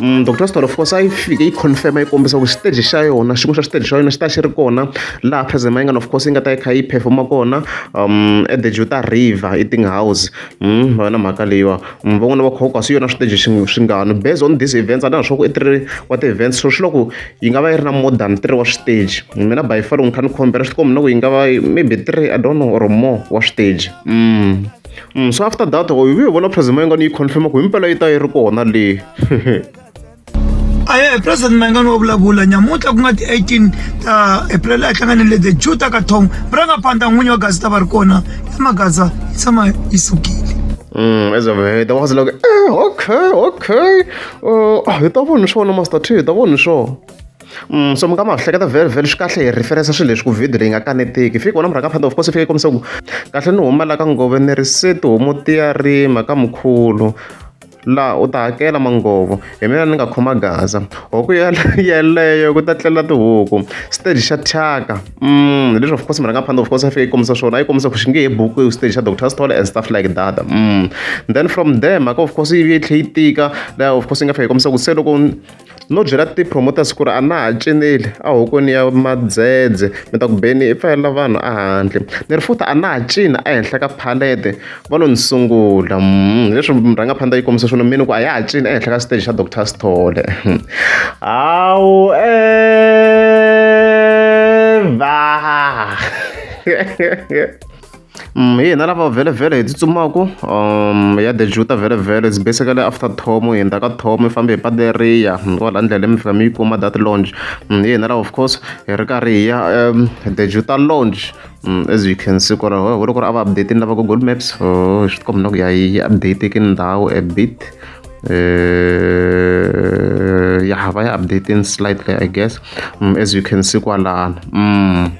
Mm, dr star of course a yi fike yi confirma yi kombisa ku xiteji xa yona xin'we xa xiteji xa yona xi ta xi ri kona laha president mayingana of course yi nga ta yi kha yi performa kona um at the juta river eating house mm, va na mhaka leyiwa mm, van'wana va khoko kasi yona switeji swingano based on this events a ni swa ku i three wa ti-events so swi loko yi nga va yi ri na more than three wa switeji mina by far loko ni kha ni khombela swi tikombi na ku yi nga va maybe three i don't know or more wa switeji mm. so after that u vuye vona president mayengani yi confirma ku himpela yi ta yi ri kona leyi aye president mayengani wa vulavula nyamuntlha ku nga ti-18 ta april a hlanganile the jew ta ka thong murangaphandla n'winyi wa gazi ta va ri kona ya magaza yi tshama yi sukile Mm, as a way, that was like, eh, okay, okay. Uh, hi ta vona swona master t hi ta vona swona so mi nga ma hleketa very very swi kahle hi referensa swilo leswi ku video leyi nga kanetiki fiki wona murhaka phanda of course fike kombisa ku kahle ni huma la ka ngove ni ri se tihomu ti ya rima ka mukhulu laha u ta hakela mangovo hi mina ni nga khoma gaza huku yeleyo ku ta tlela tihuku stage xa thyaka mm leswi of course murhanga phanda of course a fike yi kombisa swona a yi kombisa ku xi nge he buku stage xa doctor stole and stuff like that mm then from there mhaka of course yi tlhe yi tika laha of course yi nga fika yi kombisa ku se loko no byela ti-promoters ku ri a na ha cineli a hokweni ya madzedze mi ta ku beni i pfalela vanhu a handle ni ri futhi a na ha cina ehenhla ka phalete va lo ni sungula hmm, leswi murhangaphandla yi kombisa swona mini ku a ya ha cina ehenhla ka stage xa doctor sithole hmm. hawu eva hina lava vhelemvhele hi tsutsumaka ya The Juta vhelemvhele it's basically after Thomo hi hundza ka Thomo mi fambe hi patu leriya kwala ndleleni mi fika mi yi kuma that lounge hi hina lava of course hi ri karhi hi ya The Juta lounge as you can see ku ri ho loko ri a va update-ini lava google maps oh swi tikomba na ku ya yi update-eke ndhawu a bit ya va ya update-ini slightly I guess as you can see kwalano.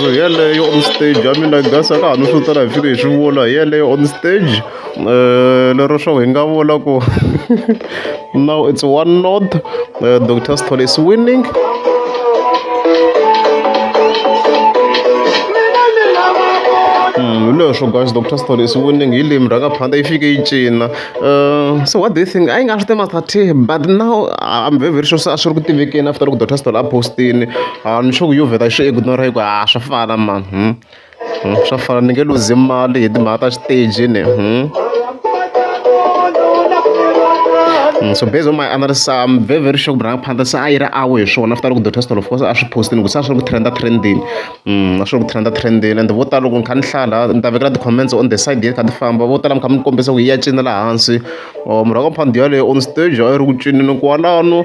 so yeleyo on stage i mean i guess a ka ha no swi tsala hi fike hi swi vula hi yeleyo on stage um lero swo hi nga vula ku Now it's one node. Uh, Dr. Stone is winning. Mm, leswo guys dr story is winning hi limi ra nga phanda yi fike yi cina uh, so what do you think a yi nga swi tima thirty but now i'm very very sure se a swi ri ku tivekeni after loko dr story a postini a ni sure ku yo vheta xi ignora hi ku a swa fana mani hmm? swa fana ni nge luzi mali hi timhaka ta xiteji ni Mm, so based on my analysis i'm very very sure ku rhanga phanda se a yi ri awe hi swona after loko the test of course a swi postini ku se a swi ri ku trenda trendini mm, a swi ri ku trenda trendini and vo tala loko ni kha ni hlala ni ta vekela ti-comments on the side yet kha ti famba vo tala mi kha mi kombisa ku yi ya cina laha hansi or murhaka phandi yaleyo on stage a yi ri ku cinini kwalano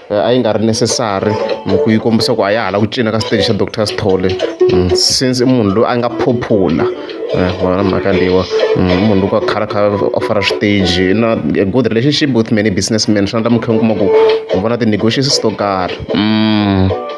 a yi nga ri necessary hi ku yi kombisa ku a ya hala ku cina ka stage xa doctor sithole mm, since i munhu loyi a nga popular eh, wona mhaka leyiwa mm, i munhu loko a khala kha a fara stage na a good relationship with many businessmen swi endla mukhe kuma ku u vona ti-negotiations to karhi mm.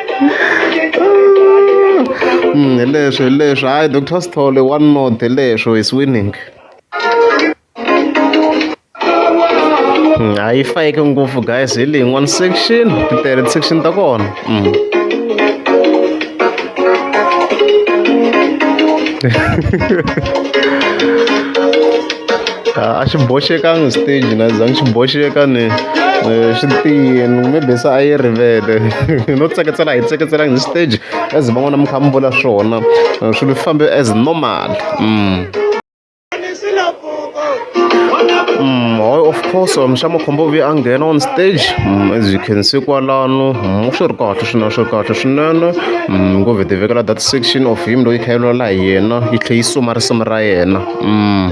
Mm, hi leswo hi leswo hayi doctor sithole one not hi leswo is winning Mm, a yi fayeke ngopfu guys hi leyi one section ti tele ti-section ta kona Mm. Ah, a xi boxekangi stage na zangi xi boxeka ni Eh, swi tiyini mi bisa a yi rivele no tseketsela hi tseketselanga hi stage as van'wana mi kha mi vula swona eh, swilo swi fambe as normal mm. Mm, of course mixamo khombo vi a nghena on stage mm, as you can see kwalano mm, swi ri kahle swinene swi ri kahle swinene mm, ngo vhe tivekela that section of him loyi kha yi lwela hi yena yi tlhe yi suma risimu ra yena mm.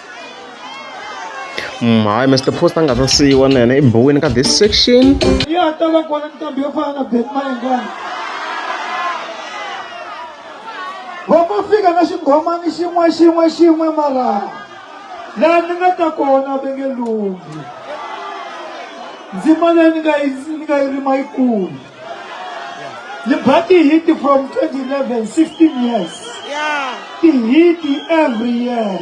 Mm, hayi Mr Post a nga ta siyiwa na yena i buwini ka this section ya ta va kona nqambi yo fana na Ben Mayengani va ma fika na xinghomani xin'we xin'we xin'we mara laha ni nga ta kona ve nge lunghi ndzima leyi ni nga yi ni nga yi rima yi kulu ni ba ti-hit from 2011 16 years ti-hit every year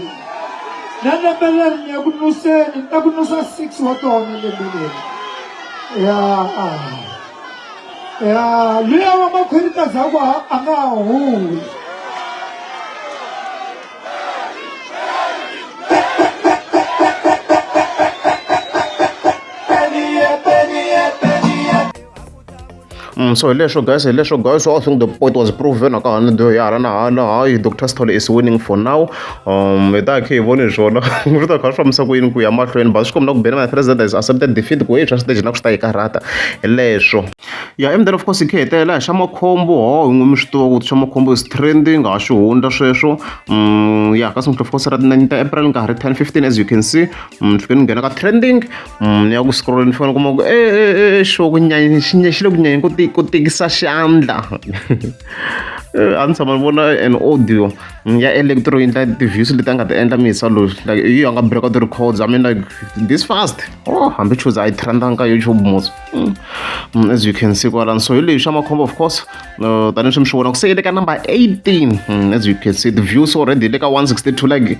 na lembe leri ni ya ku nuseni ni ta ku nusa six wa tona lembe leri ya ya luya wa makhwerita zakwa a nga huli Mm, so hileswo guys hileswo guys i think the point was proven aka hana do ya hala na hala hayi dr stole is winning for now um hi ta khe hi voni swona ri ta kha swi fambisa ku yini ku ya mahlweni but swi kombela ku bena na president is accepted defeat ku hi swa stage na ku swi ta yi karhata hileswo Ya and then of course hi kha hi hetelela hi xa makhombo ho hi n'wi mi swi tiva ku swa makhombo is trending ha swi hundza sweswo mm, ya ka single of course ra tinani ta april nkarhi 10 15 as you can see mm, ni fike ni nghena ka trending mm, ni ya ku scroll ni fika ni kuma ku e eh, e eh, e eh, xo ku nyanya xi nya xi le ku nyanyeni ku ku tikisa xandla a ni tshama ni vona an audio ya electro yi endla ti-views leti a nga ti endla misa loyi like yi a nga break out ti-records i mean like this fast oh hambi chuza a yi trendanga ka youtube mos Mm. Mm, as you can see kwalani so hi leyi xa makhombo of course uh, tanihileswi mi swi vona ku se yi le ka number 18 mm, as you can see the views already le ka 162 like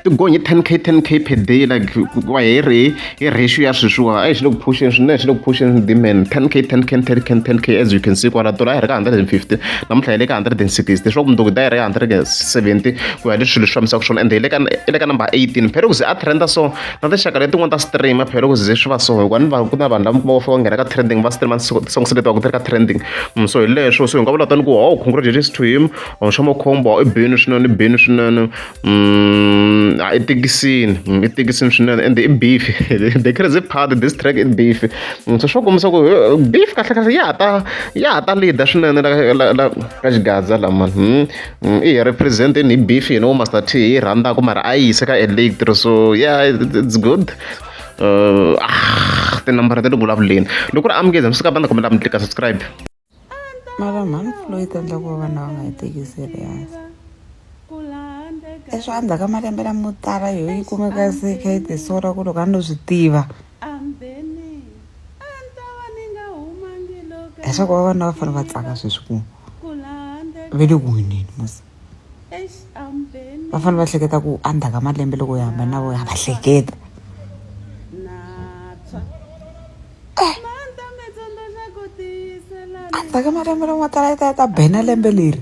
ti gonye 10k 10k per day like wa hi ri hi ratio ya sweswiwa a hi xi le ku phuxeni swinene xi le ku phuxeni dimen 10k 10k 10k 10k as you can see kwala dola a hi ri ka 150 namuntlha hi le ka 160 swa ku mundzuku da hi ri ka 170 ku ya hi leswi swilo swi fambisaka swona ende hi le ka number 18 phela ku ze a trenda so na tinxaka letin'wana ta streamer phela loko ze swi va so hikuva ni va ku na vanhu lava va fika nghena ka trending va streamer songs leti va ku ti ri ka trending mm, so hi leswo so hi nga vula tani ku o oh, congratulations to him or oh, nxomo khombo i bini swinene i bini swinene mm, i tikisini mm, i tikisini swinene and i beef the crazy part this track i beef so swo kombisa ku eh, beef kahle kahle ya ta ya ta leader swinene la ka xigadza lamani I hi represent ni beef you know master t hi rhandzaka mara a yi yise ka electro so yeah it's good uh, ah, tinambara ta le ku vulavuleni loko ri amukeza mi suka banda kombela mi tlika subscribe mara mhani floyd endla ku va vana va nga yi teki serious leswi a ndzhaku ka malembe lamo tala yoyi kumeka se kha yi tisora ku loko a no swi tiva heswa ku vavanuna va fanele va tsaka sweswi ku ve le ku wineni mos va fanele va hleketa ku endzhaku ka malembe loko hi hambana na vo ha va hleketa endzhaku ka malembe loko ma tala yi ta yi ta bena lembe leri